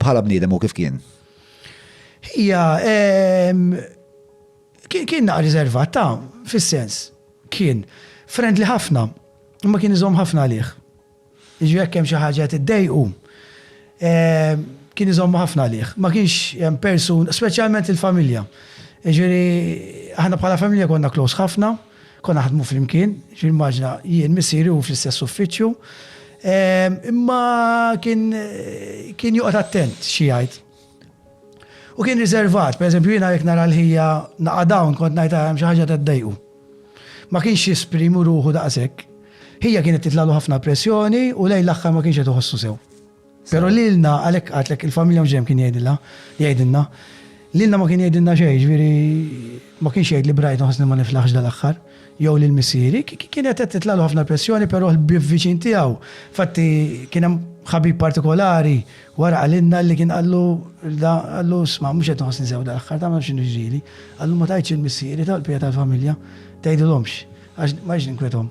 bħala bniedem u kif kien? Hija kien kien naqra riservat ta' fis-sens kien friendly ħafna, imma kien iżomm ħafna għalih. Jiġri jekk hemm xi ħaġa qed iddejqu kien iżomm ħafna għalih. Ma kienx hemm persun, speċjalment il-familja. Jiġri aħna bħala familja konna close ħafna. Konna naħdmu flimkien, ġifieri immaġina jien, missieri u hu fl-istess uffiċċju. Imma kien kien joqgħod attent xi jgħid. U kien riservat, pereżempju jiena jekk nara l-ħija naqa' down kont ngħid hemm xi ħaġa qed iddejqu. Ma kienx jesprimi ruħu daqshekk. Ħija kienet titlagħlu ħafna pressjoni u lejn l-aħħar ma kienx qed iħossu sew. Pero lilna, għalhekk għedtlek il-familja mhux dejjem kien jgħidilha, jgħidilna. Lilna ma kien jgħidilna xejn, ġifieri ma kienx jgħidli Brighton ħossni ma niflaħx dal-aħħar, jew lil missieri. Kienet qed titlalu ħafna l-pressjoni, però l-ħbieb viċin tiegħu. Fatti kien hemm ħabib partikolari wara qalilna li kien qallu qallu sma' mhux qed nħossni sew dal-aħħar tagħmel x'inhu ġieli. Qallu ma tajtx il-missieri tal-pija tal-familja, tgħidilhomx għax ma jiġ ninkwethom.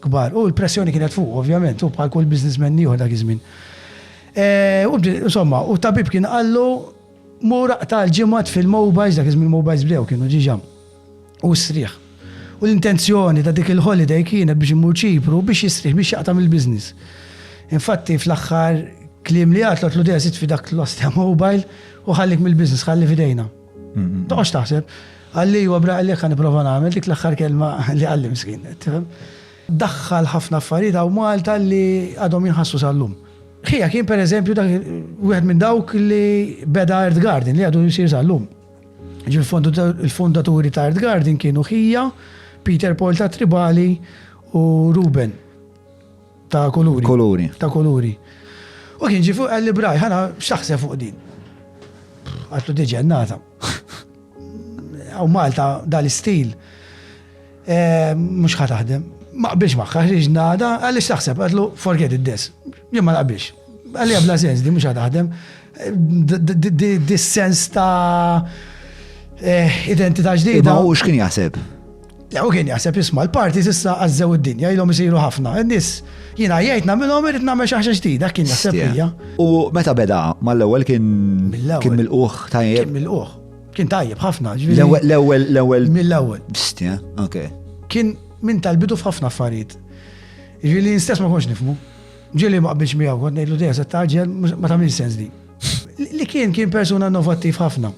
kbar. U l-pressjoni kienet fuqu, ovvjament, u bħal kull businessman ieħor dak iż-żmien. Eh, u bdi- Insomma, u tabib kien qallu mur aqta' l-ġimgħat fil-mobiles, dak iż-żmien mobiles bdew kienu ġiġa. U sriħ. U l-intenzjoni ta' dik il-holiday kienet biex imur ċipru biex jisriħ biex jaqta' mill-business. Infatti fl-aħħar kliem li għatlu għatlu dejja sit fi dak l-ostja mobile u ħallik mill-business, ħalli fidejna. Toqgħodx taħseb, għalli huwa bra għalli kan nipprova nagħmel dik l-aħħar kelma li għalli miskin, tifhem? Daħħal ħafna affarijiet hawn Malta li għadhom jinħassu sal-lum. Ħija kien per eżempju dak wieħed minn dawk li beda Earth Garden li għadu jisir sal-lum. Il-fondaturi ta' Earth Garden kienu ħija, Peter Paul ta' Tribali u Ruben. ta' kuluri. Kuluri. Ta' kuluri. U kien ġi fuq għalli braj, ħana xaħse fuq din. Għattu diġen nata. Għaw Malta dal-istil. Eh, Mux ħataħdem. Ma biex maħħa ħriġ nada, għalli xaħseb, għatlu forget it this. Jien ma naqbix. Għalli għabla sens di mux ħataħdem. Dis-sens ta' eh, identità ġdida. Ma u xkien jaħseb? Lew kien jaħseb isma' l-parti s'issa għażżew id-dinja ilhom isiru ħafna. Nis jiena jgħid nagħmilhom irid nagħmel xi ħaġa ġdida kien jaħseb hija. U meta beda mal-ewwel kien kien mill-quħ tajjeb. Kien mill-quħ. Kien tajjeb ħafna. L-ewwel l-ewwel mill-ewwel. Bistja, ok. Kien minn tal-bidu f'ħafna affarijiet. Ġieli stess ma konx nifmu. Ġieli ma qbilx miegħu kont ngħidlu dejja se taġġel ma tagħmel sens di. Li kien kien persuna innovattiv ħafna.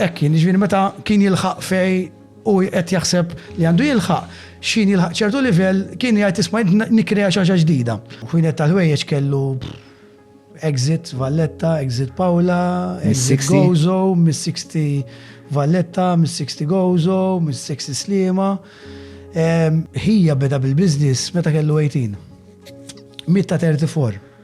Ekk kien ġieli meta kien jilħaq fej Hu qed jaħseb li għandu jilħaq x'ħin jilħaq ċertu livell, kien jgħid isma' jien nikkrea xi ħaġa ġdida. Ħwienet tal-ħwejjeġ kellu Exit Valletta, Exit Paola, Exit Gozo, Miss 60 Valletta, Miss 60 Gozo, Miss 60 Slima. Ħija beda bil-biznis meta kellu 18. Mitta 34.